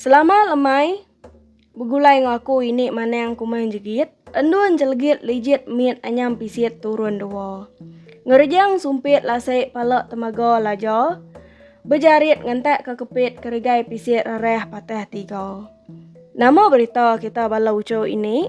Selama lemai begulai enggau aku ini manang kumang jegit, endun jelegit lijit mit anyam pisit turun dua. Ngerejang sumpit lasai pala temaga laja, bejarit ngentak ke kepit keregai pisit rarah patah tiga. Nama berita kita bala uchu ini?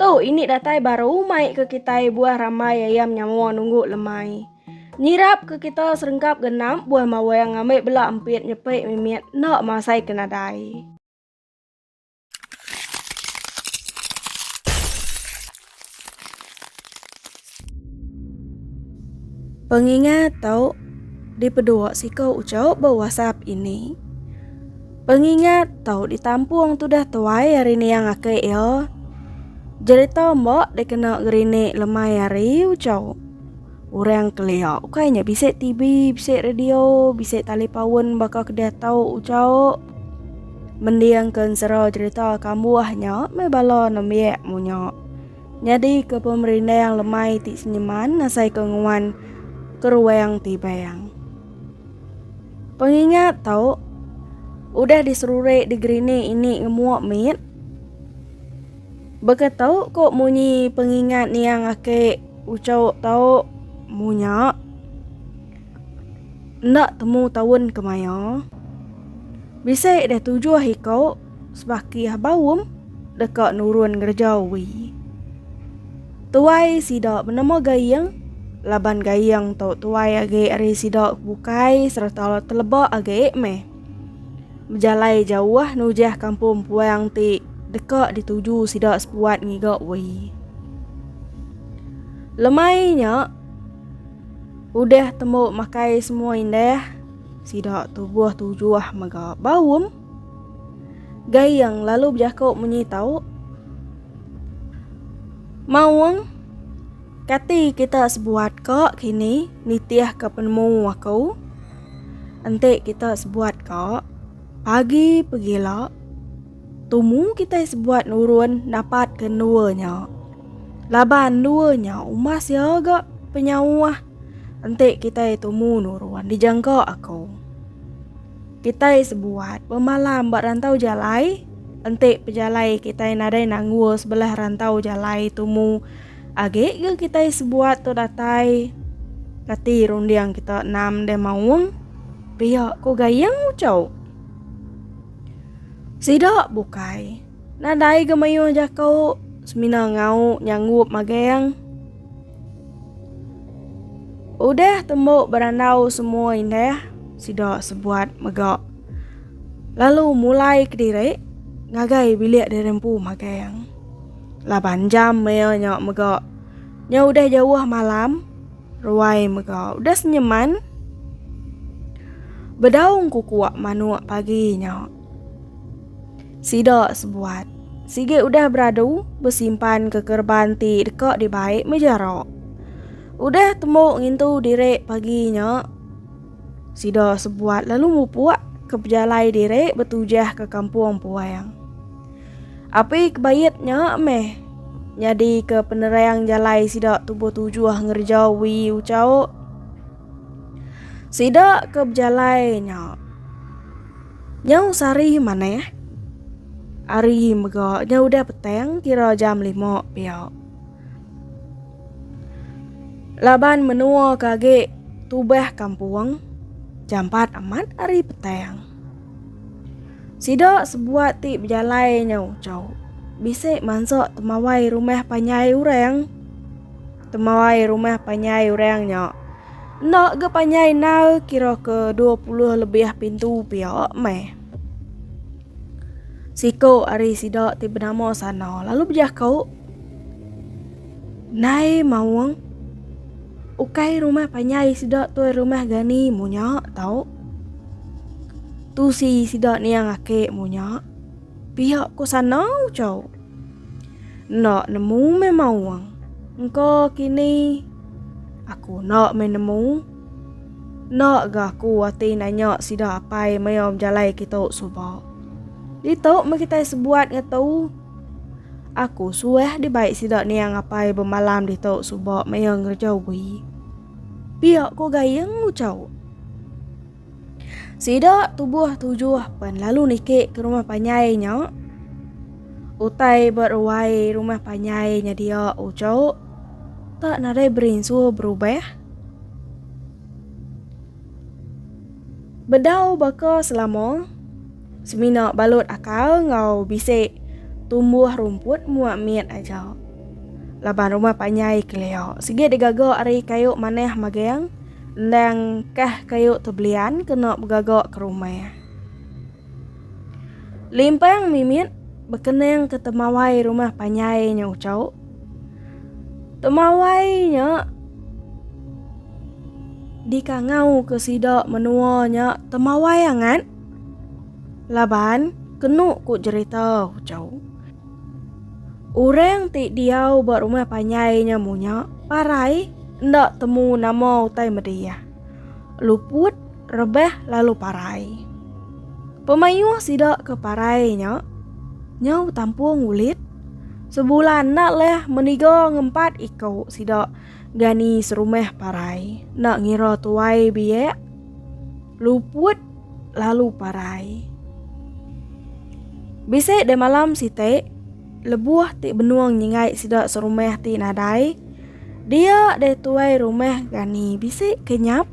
Tu ini datai baru mai ke kitai buah rambai ayam nyawa nunggu lemai. Nyirap ke kita serengkap genap buah mawang ngambil bela empit nyepi mimit enda masai ke nadai. Pengingat tu dipedua siku uchu ba WhatsApp ini. Pengingat tu ditampung tudah tuai ari niang ake iya. Jerita emba dikena gerinik lemai hari uchu. Orang kelia ukai nya bisi TV, bisi radio, bisi tali paun baka ke diatu uchu. Mendingka ensera jerita kambuh nya meh bala nembiak munyi. Nyadika pemerindang lemai ti senyeman nasaika nguan keruang ti bayang. Pengingat tau udah diseruri degree ni ini ngemuk mit. Baka tau ko munyi pengingat niang ake ucau tau munya. Enda temu taun kemaya. Bisi deh tujuh iko. sebakih baum deka nurun ngereja wi. Tuai sida menemu gaing laban gaing tu tuai agi ari sida bukai serta teleba agi meh. Bejalai jauh nujah kampung puang ti deka dituju sida sepuat ngiga wi. Lemai nya udah temu makai semua indah sida tubuh tujuh mega baum. Gayeng lalu bejaku munyi tau, Maung, kati kita sebuat ka kini nitih ka penemu aku? Enti kita sebuat ka, pagi pegila tumu kita sebuat nurun dapat ke endua nya. Laban endua nya umas iya ga penyauh enti kita tumu nurun dijangka aku. Kitai sebuat bemalam ba rantau jalai, enti pejalai kitai nadai nanggul sebelah rantau jalai tumu agi ke kitai sebuat tu datai kati runding kita enam deh maung pia ku gayeng ucau. Sida bukai nadai ga mayuh jaku semina ngau nyanggup magang. Udah tembu berandau semua indah, sida sebuat mega. Lalu mulai kediri ngagai bilik diri empu magang. Laban jam maya nya mega. Nya udah jauh malam, ruai mega udah senyeman. Bedau engku kuak manuk pagi nya. Sida sebuat sigi udah beradu besimpan ke kerban ti deka dibai mejara. Udah temu ngintu diri pagi nya, sida sebuat lalu mupuk ke pejalai diri betujah ke kampung Puang. Api kebait nya meh nyadi ke penerang jalai sida tubuh tujuh ngereja Wee Ucau. Sida ke bejalai nya. Nyau sehari manah. Hari mega nya udah petang kira jam lima pia. Laban menua ke agi tubah kampung jam empat amat hari petang. Sida sebuat ti bejalai nyau chau bisi mansa temawai rumah panjai orang. Temauai rumah panjai orang nya. Enda ga panjai nal kira ke 20 lebih pintu pia meh. Siko ari sida ti benama sana lalu bejako, Nai Maung, ukai rumah panjai sida tu rumah gani munya tau. Tu si sida niang ake munya. Pia ko sana ucau. Enda nemu memang wang. Engka kini aku enda main nemu. Enda ga aku ati nanya sida apai maya bejalai kitu suba. Ditu meh kitai sebuat ngetu. Aku suah dibai sida niang apai bemalam ditu suba maya ngereja ubi. Pia ko Gayeng ucau. Sida tubuh tujuh pen lalu niki ke rumah panjai nya. Utai ba ruai rumah panjai nya dia ujo. Tak nadai berinsu berubah. Bedau baka selama semina balut akal enggau bisi tumbuh rumput mua mit aja. Laban rumah panjai kelia sigi digaga ari kayu manah magang Endang kah kayu tu belian kena begaga ke rumah. Limpang mimit bekening ke temawai rumah panjai nya ucau. Temawai nya dikangau ke sida menua nya temawai angat laban kenu ku jerita ucau. Orang ti diau ba rumah panjai nya munya parai enda temu nama utai meda iya. Luput, rebah lalu parai. Pemayuh sida ke parai nya nyau betampung ulit sebulan enda leh meniga ngempat iko sida. Gani serumah parai nak ngira tuai biak luput lalu parai. Bisa de malam siti lebuh ti benung nyingai sida serumah ti nadai dia de tuai rumah gani bisi kenyap.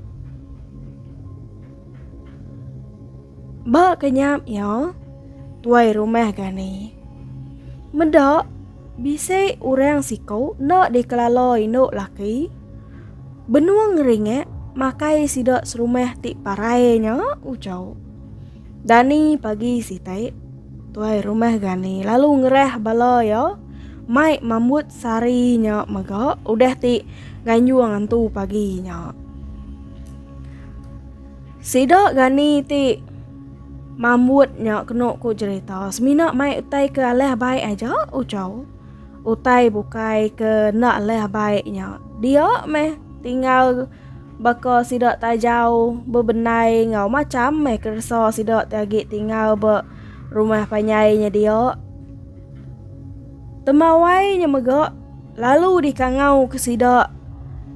Ba kenyap iya tuai rumah gani. Meda Bisi orang siku enda dikelala indu laki benung ngeringak makai sida serumah ti parai nya ujau. Dani pagi sitai tuai rumah Gani lalu ngerah bala iya mai mambut sari nya mega udah ti nganjung antu pagi nya. Sida gani ti mambut nya kenu ku jerita semina mai utai ke alah baik aja ujau. Utai bukai ke enda alah baik nya dia meh tinggal baka sida tajau bebendai enggau macham meh keresa sida ti agi tinggal ba rumah panjai nya dia. Temawai nya mega lalu dikangauka sida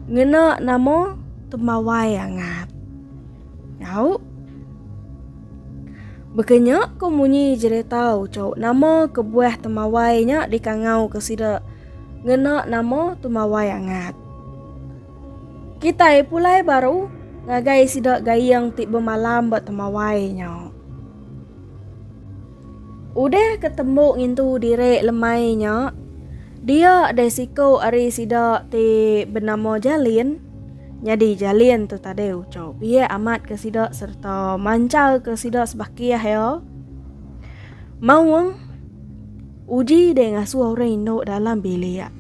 ngena nama Temawai Angat. Nyau. Baka nya ko munyi jereta uchauk nama kebuah Temawai nya dikangauka sida ngena nama Temawai Angat. Kitai pulai baru ngagai sida Gayeng ti bemalam ba Temawai nya. Udah ke tembu ngintu diri lemai nya, dia deh siku ari sida ti benama Jalin. Nyadi Jalin tu tadi uco biak amat ke sida sereta manchal ke sida sebakih iya. Maung, Uji deh ngasuh orang indu dalam bilik.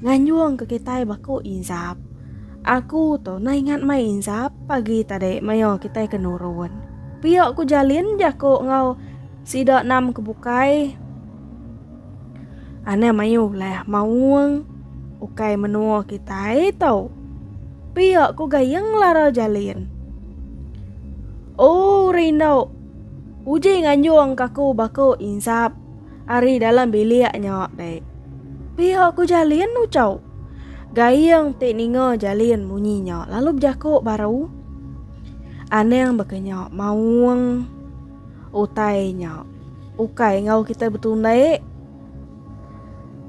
Nganjung ke kitai baku inzap. Aku tu na ingat mai inzap pagi tadi maioh kitai ke nurun. Pia ku Jalin jaku enggau sida enam ke bukai. Anang maioh ulah maung ukai menua kitai tu. Pia ku Gayeng ngelara Jalin. Oh rindau. Uji nganjung ke aku baku inzap. Ari dalam bilik nya dek. Pihak ku Jalin ucau. Gaing ti ninga Jalin munyi nya lalu bejaku baru. Anang baka nya maung. Utai nya. Ukai ngau kita betundai.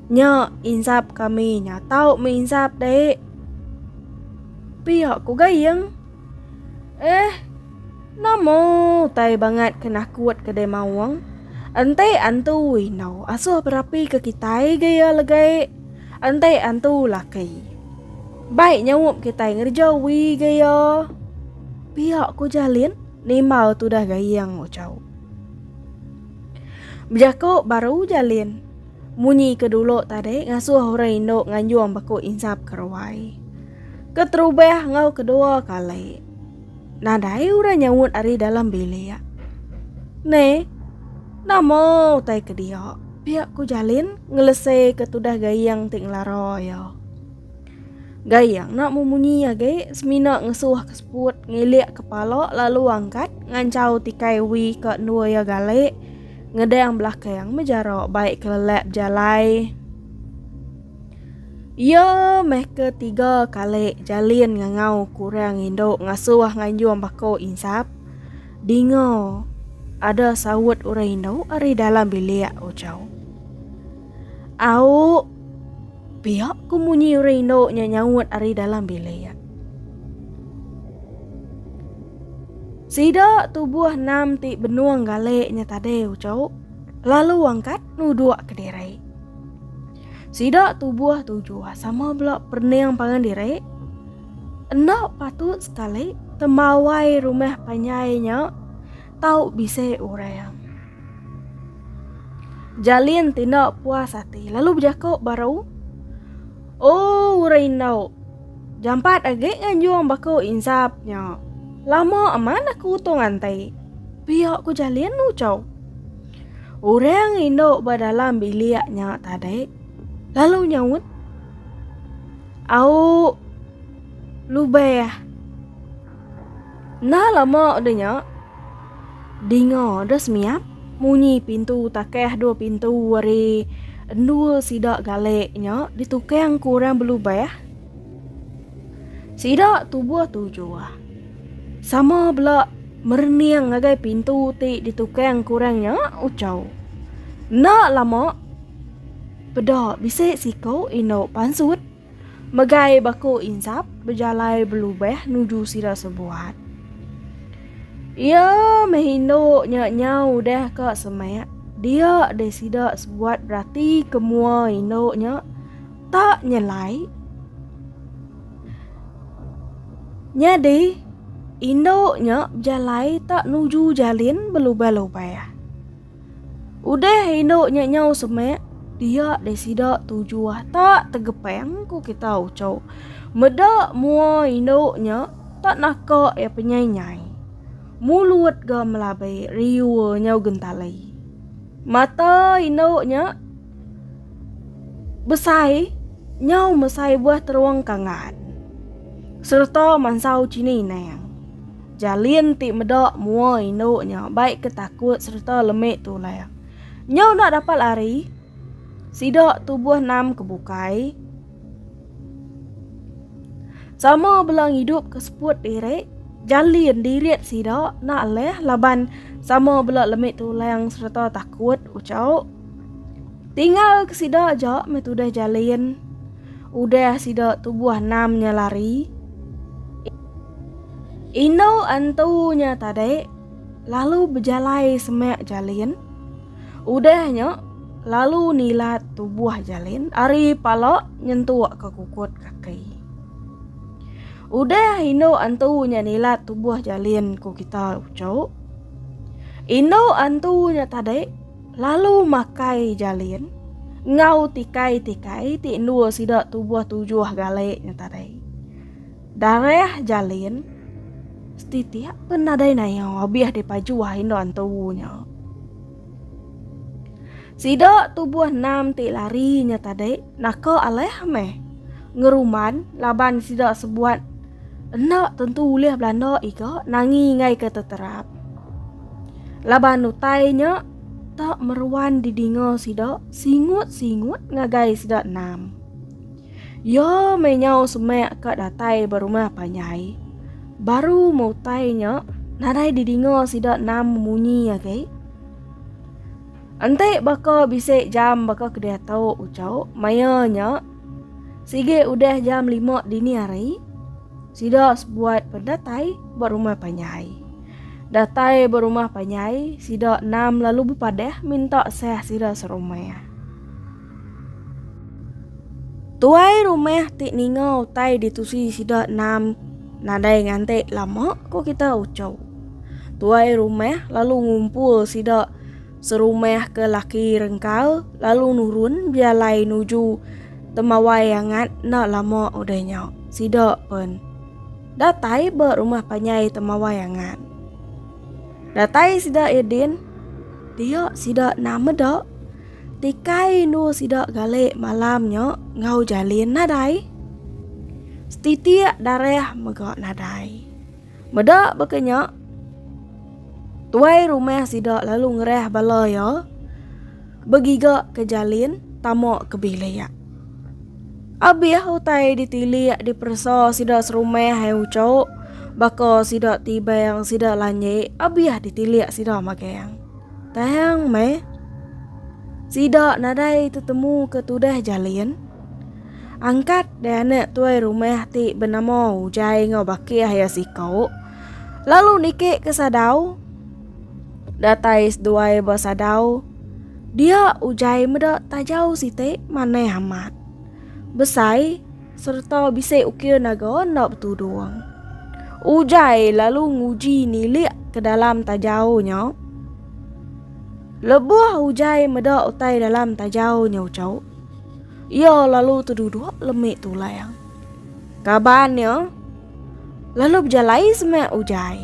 Nya insap kami nya tau mensap dek. Pihak ku Gaing. Eh, nama utai bangat ke nakut kedai maung? Enti antu indau asuh berapi ke kitai ga iya legai. Enti antu laki. Baik nyaup kitai ngereja wi ga iya. Pia ku Jalin nimbal tudah Gayeng Ucau. Bejaku baru Jalin. Munyi ke dulu tadi ngasuh orang indu nganjung baku insap ke ruai. Keterubah enggau kedua kali. Nadai orang nyaut ari dalam bilik. Ne, nama utai ke dia? Pia ku Jalin ngelesei ke tudah gayeng ti ngelara iya. Gai iya ngena memunyi iya gai semina ngesuh ke seput ngilik kepala lalu angkat ngancau tikai wi ke endur iya gali ngedang belakang mejara baik kelelap jalai iya meh ke tiga kali jalin ngangau ke orang indu ngasuh nganjung bako insap dinga ada saut orang indu ari dalam bilik Ochau. Au! Pia ku munyi orang indu nya nyaut ari dalam bilik. Sida tubuh enam ti benung galik nya tadi ucau lalu angkat nuduk ke diri. Sida tubuh tujuh sama bela pening pangan diri. Enda patut sekali temawai rumah panjai nya tau bisi orang. Jalin ti enda puas ati lalu bejaku baru, Oh orang indu, jampat agi nganjung baku insap nya. Lama aman aku utung anti. Pia ku Jalin ucau. Orang indu ba dalam bilik nya tadi lalu nyaut, Au lubah Enda lama udah nya, dinga dah semiap munyi pintu takah dua pintu ari endul sida galek nya ditukang ku orang belubah. Sida tubuh tujuh. Sama bela merening ngagai pintu ti ditukang ku orang nya ucau. Enda lama peda bisi siku indu pansut Megai baku Insap bejalai belubah nuju sida sebuat. Iya meh indu nya nyau udah ka semak dia deh sida sebuat berati ke mua indu nya tak nyelai. Nyadi indu nya bejalai tak nuju jalin belubah-lubah. Udah indu nya nyau semik, dia deh sida tuju ah tak tegepang ku kita ucau. Meda mua indu nya tak naka iya penyai-nyai. Mulut ga melabai riur nyau gentali. Mata indu nya besai nyau mesai buah terung kangan sereta mansau chini inang. Jalin ti meda mua indu nya bai ke takut sereta lemi tulang. Nyau enda dapat lari, sida tubuh enam ke bukai. Sama bela ngidup ke seput diri, jalin dirit sida enda leh laban sama bela lemi tulang sereta takut ucau. Tinggal ke sida aja meh tudah jalin. Udah sida tubuh enam nya lari. Indu antu nya tadi lalu bejalai semak jalin. Udah nya lalu nilat tubuh jalin ari pala nyentuk ke kukut kaki. Udah indu antu nya nilat tubuh jalin ku kita uchu. Indu antu nya tadi lalu makai jalin enggau tikai-tikai ti endur sida tubuh tujuh gali nya tadi. Darah jalin setitik pun nadai naya abih dipajuh indu antu nya. Sida tubuh enam ti lari nya tadi naka alah meh ngeruman laban sida sebuat enda tentu ulih belanda iga nangi ingai ke teterap. Laban utai nya tak meruan didinga sida singut-singut ngagai sida enam. Iya meh nyau semak ka datai ba rumah panjai. Baru meh utai nya, nadai didinga sida nam munyi agi. Enti baka bisi jam baka ke diatu uchu maya nya, sigi udah jam lima dini hari, sida sebuat pen datai ba rumah panjai. Datai ba rumah panjai, sida nam lalu bepadah minta sah sida serumah. Tuai rumah ti ninga utai ditusi sida enam nadai nganti lama ko kita ucau. Tuai rumah lalu ngumpul sida serumah ke laki rengkal lalu nurun bejalai nuju temawai angat enda lama udah nya. Sida pen datai ba rumah panjai temawai angat. Datai sida ya din dia sida enam meda. Tikai indu sida galik malam nya ngau jalin nadai. Setitik darah mega nadai. Meda baka nya, tuai rumah sida lalu ngerah bala iya begiga ke jalin tama ke bilik. Abih utai ditilik diperesa sida serumah ai uchu baka sida tibang sida lanjik abih ditilik sida magang. Tang meh, sida nadai tetemu ke tudah jalin. Angkat deh anak tuai rumah ti benama Ujai enggau Bakih iya siko, lalu niki ke sadau. Datai seduai ba sadau, dia Ujai meda tajau siti manah amat. Besai. sereta bisi ukir naga enda betudung. Ujai lalu nguji nilik ke dalam tajau nya. Lebuh Ujai meda utai dalam tajau nya ucau, iya lalu teduduk lemi tulang. Kaban iya lalu bejalai semak Ujai.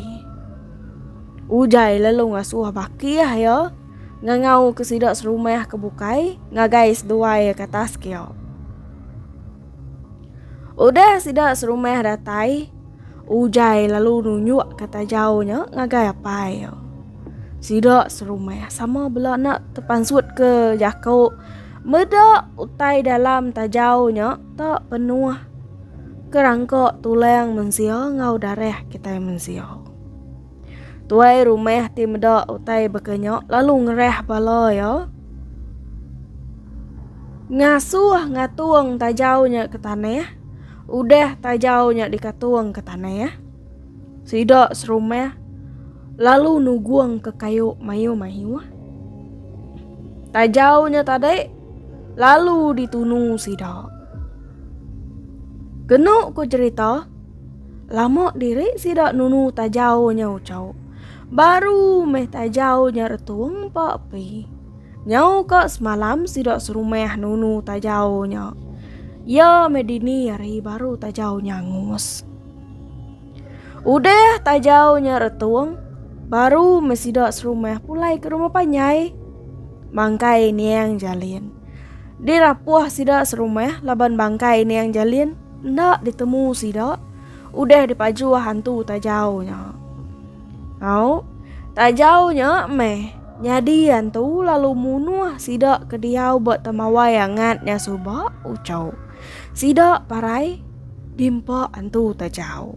Ujai lalu ngasuh bakih iya. ngangau ke sida serumah ke bukai ngagai seduai ke atas kio. Udah sida serumah datai, Ujai lalu nunjuk kata jauh nya ngagai apai yo. Sida serumah sama bela nak tepansut ke jako meda utai dalam tajau nya tak penuh kerangka tulang mensia ngau darah kitai mensia. Tuai rumah ti meda utai baka nya lalu ngerah bala iya. Ngasuh ngatung tajau nya ke tanah, udah tajau nya dikatung ke tanah. Sida serumah lalu nugung ke kayu mayuh-mayuh. Tajau nya tadi lalu ditunu sida. Kenu ku cerita, Lama diri sida nunu tajau nya ucau. Baru meh tajau nya retung empa api. Nyau ka semalam sida serumah nunu tajau nya. Ya meh dini hari baru tajau nya angus. Udah tajau nya retung, baru meh sida serumah pulai ke rumah panjai. Bangkai Niang Jalin. Dirapuh sida serumah laban bangkai Niang Jalin. Enda ditemu sida, udah dipajuh hantu Tajau nya. Au, Tajau nya meh nyadi hantu lalu munuh sida ke diau ba Temawai Angat nya suba, ucau sida parai dimpa hantu Tajau.